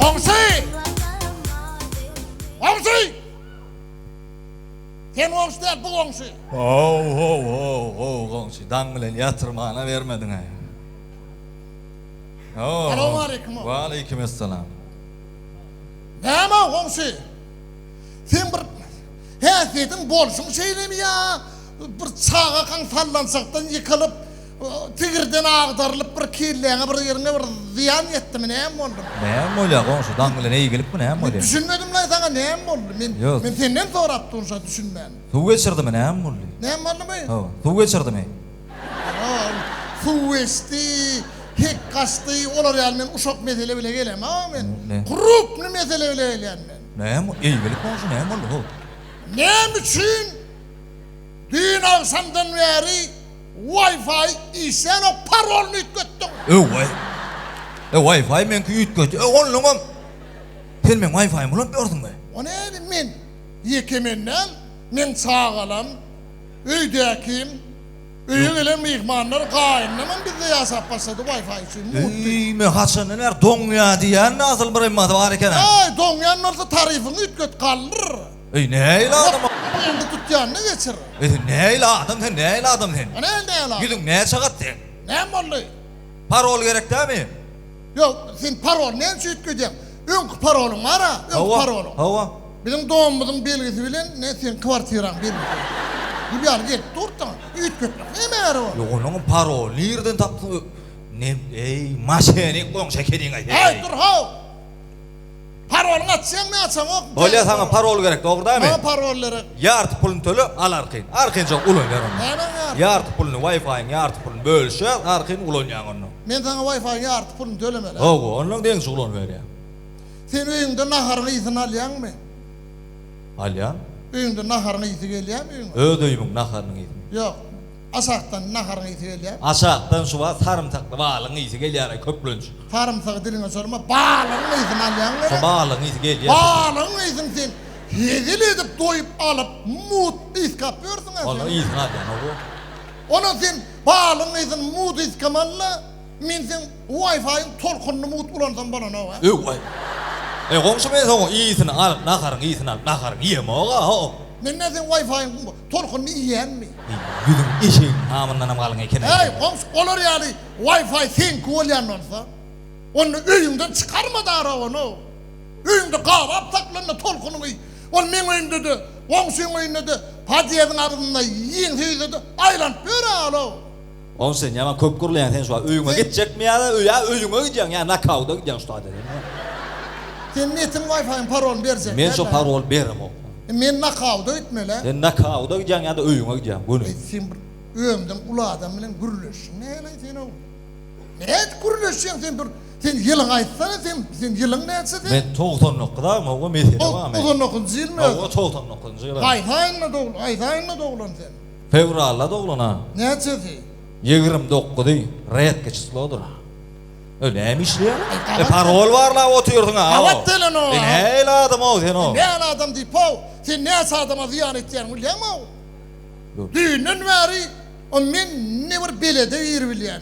Goňşy! Goňşy! Sen goňşy däl, bu goňşy. Ho-ho-ho-ho, goňşy, daň bilen ýatyrmana bermediň-ä. Salowmaleýkim-ow. Waleýkimessalam. Näme-ow, goňşy? Sen bir häsiýetiň bolşuň şeýlemi ýa bir çagakaň sallançakdan ýykylyp, Tigirden agdarylyp bir kelläňe bir ýeriňe bir zyýan ýetdimi näme boldy? Näme bolýar goňşy daň bilen eýgilipmi näme bolýar? Men düşünmedimlaý saňa näme boldy? Men men senden sorap durun şa düşünmän. Suw geçirdimi näme boldy? Näme boldymy? Hawa suw geçirdimi? Ýok suw geçdi hek gaçdy olar ýaly men uşak mesele bile gelen hawa men krupny mesele bile gelýän men. Näme eýgilip goňşy näme boldy ho? Näme üçin düýn agşamdan bäri Wi-Fi işlänok parolyny üýtgetdiň. Öway. E Wi-Fi meňki üýtgetdi. E onnoňam sen meň Wi-Fi-mi ulanyp ýörsüňmi? O näme men? Ýeke men däl, meň çagalam, öýdäkim, öýe gelen myhmanlar, gaýynymam bizde ýaşap başlady Wi-Fi üçin. Mugt. Eý men haçandan bäri doňýa diýýän asyl bir ymmasy bar ekeni. Äý doňýan bolsa taryfyňy üýtget galdyr. Eý nähili adam? Bu indi tutýanyny geçir. Eý sen nähili adam sen nähili adam sen? Ine indi nähili adam. Ýüzüň näçe gat seň? Näme boldy? Parol gerek dämi? Ýok sen parol näme üçin üýtgedýäň? Öňki parolyň bara öňki parolyň. Hawa. Biziň domumyzyň belgisi bilen ne seň kwartiraň belgisi. Gül ýaly gelip dur saňa. Üýtgetmek näme ýarar ol? Ýok onuň parolyny nirden tapdyň? Ne eý maşenik goňşy ekeniň-aý. Eý dur how. Parolyňy açýaň naçaňok. Bolýa saňa parol gerek dogry damy. Maňa parol gerek. Ýarty pulyny töle al arkin. Arkinçaň ulanýar ony. Nämäň ýarty. Ýarty pulyny waýfaýyň ýarty pulyny bölüşýäs arkin ulanýaň ony. Men saňa waýfaýyň ýarty pulyny tölemeli. Hawa ondan deňiçe ulanyberýäň. Sen öýüňde naharyň ysyn alýaňmy. Alýan. Öýüňde naharyň ysy gelýämi öýüňe. Öz öýümiň naharynyň ysy. Ýok. Aşakdan naharyň ysy gelýär. Aşakdan şu wagt sarymsakly balygyň ysy gelýär-aý, köplenç. Sarymsagy diliňe sorma, balygyň ysyny alýaň nere? Şo balygyň ysy gelýär. Balygyň ysyny sen hezil edip doýup alyp, mut ysgap ýörsüň-ä sen. Balygyň ysyny alýan-ow. Onam sen balygyň ysyny mut ysgamaly-la, men seň Wi-Fi-iň tolkunyny mut ulansam bolanok-a. Öw-aý. Eý, goňşy men soň ysyny alyp, naharyň ysyny alyp, naharyňy iýemok-a-ow. Men-ä seň Wi-Fi-iň Tolkunyny iýýänmi? Ýüzüň eşegiň hamyndanam galyň eken-ä seniň. Häý, goňşy, olar ýaly Wi-Fi seňki bolýan bolsa, onda öýüňden çykarma-da arabany-ow. Öýüňde gabap saklan-da tolkunyňy iý. Ol meň öýümde-de, goňşyň öýünde-de, podýezdiň agzynda iýiň söýse-de, aýlanyp ýör-ä ol-ow. Ow sen ýaman köp gürleýäň sen şuwagt öýüňe gitjekmi ýa-da ýa öýüňe gidýäň ýa nakauda gidýäň şu taýda sen ýa. Seň netiň waýfaýyň parolyny berjekler. Men şo paroly beremok. Men nakauda gitmelä. Sen nakauda gidýäň ýa-da öýüňe gidýäň göni. Eý sen bir özüňden uly adam bilen gürleşiň näleý sen ow. Nädip gürleşýäň sen bir sen ýylyňy aýtsana sen sen ýylyň näçe sen. Men togsan dokuz agam ow mesele bar men. Togsan dokuzynjy ýylmy özüň. Ow togsan dokuzynjy ýylym. Haýsy aýynda doglan haýsy aýynda doglan sen. Fewralda doglan a. Näçesi? Ýigrimi dokuzy, retki çyslodyr. E näme işleýäň? E parol barlap otyrsyň a. Gabat gelen o. E nähili adam-ow sen o. Nähili adam diýip-ow, sen näçe adama zyýan etýäň bilýäňmi-ow? Düýnden bäri o men ne bir belede giribilýän.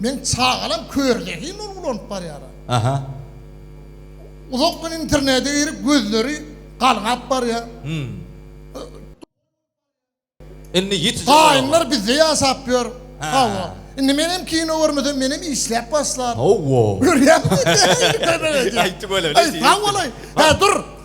Meň çagalam kör zehin ol ulanyp barýara. Aha. Uzak gün internete girip gözleri galgap barýa. Hum. Indi ýiti jogap. Gaýynlar bizde ýaşap ýör. Hawa. Indi menem kino görmesem menem işläp başlar. Hawa. Görýäňmi? Aýtygöler. Aý sag bolaý. Hä dur.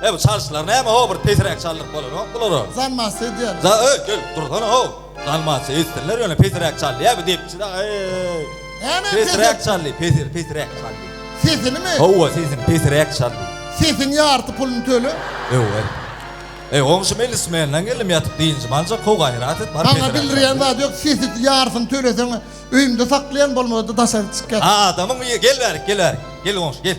He bu çalyşlar näme ho bir pesiräk çaldyk bolanok bulara. Zalmaçy edýärler. Za öý gel dursana ho. Zalmaçy etsinler ýöne pesiräk çaldy ýa bu depçi da eý. Näme pesiräk çaldy pesir pesiräk çaldy. Sesinimi? Howwa sesini pesiräk çaldy. Sesiň ýarty puluny töle. Öý. Eý goňşy melis menden geldim ýatyp dynjymy aljak ho gaýrat et bar pesiräk. Maňa bildirýän zat ýok sesi ýartyny töleseň öýümde saklaýan bolmady daşary çyk ýat. Adamyň gel bärik gel bärik gel goňşy gel.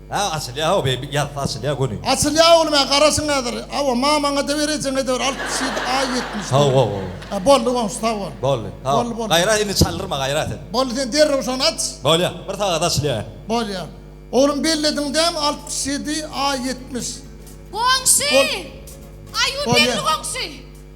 Hä açylýa hawa beýbi ýazsa açylýa göni. Açylýa oglum hä garaşyň häzir. Hawa mamaň ede berejeň edewir altmyş ýedi aý ýetmiş Haw haw haw. Hä boldy goňşy sag bol. Boldy haw Boldy boldy. gaýra indi çaldyrma gaýra sen. Boldy sen derrew şony aç. Bolýa bir sagada açylýa hä. Bolýa. Oglum bellediň dämi altmyş ýedi aý ýetmiş. Goňşy! Bol Aýuw Bolýa. berdi goňşy.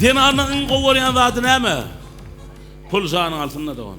Zenanyň iň gowy görýän zady näme? Pul janyň alsynda dogan.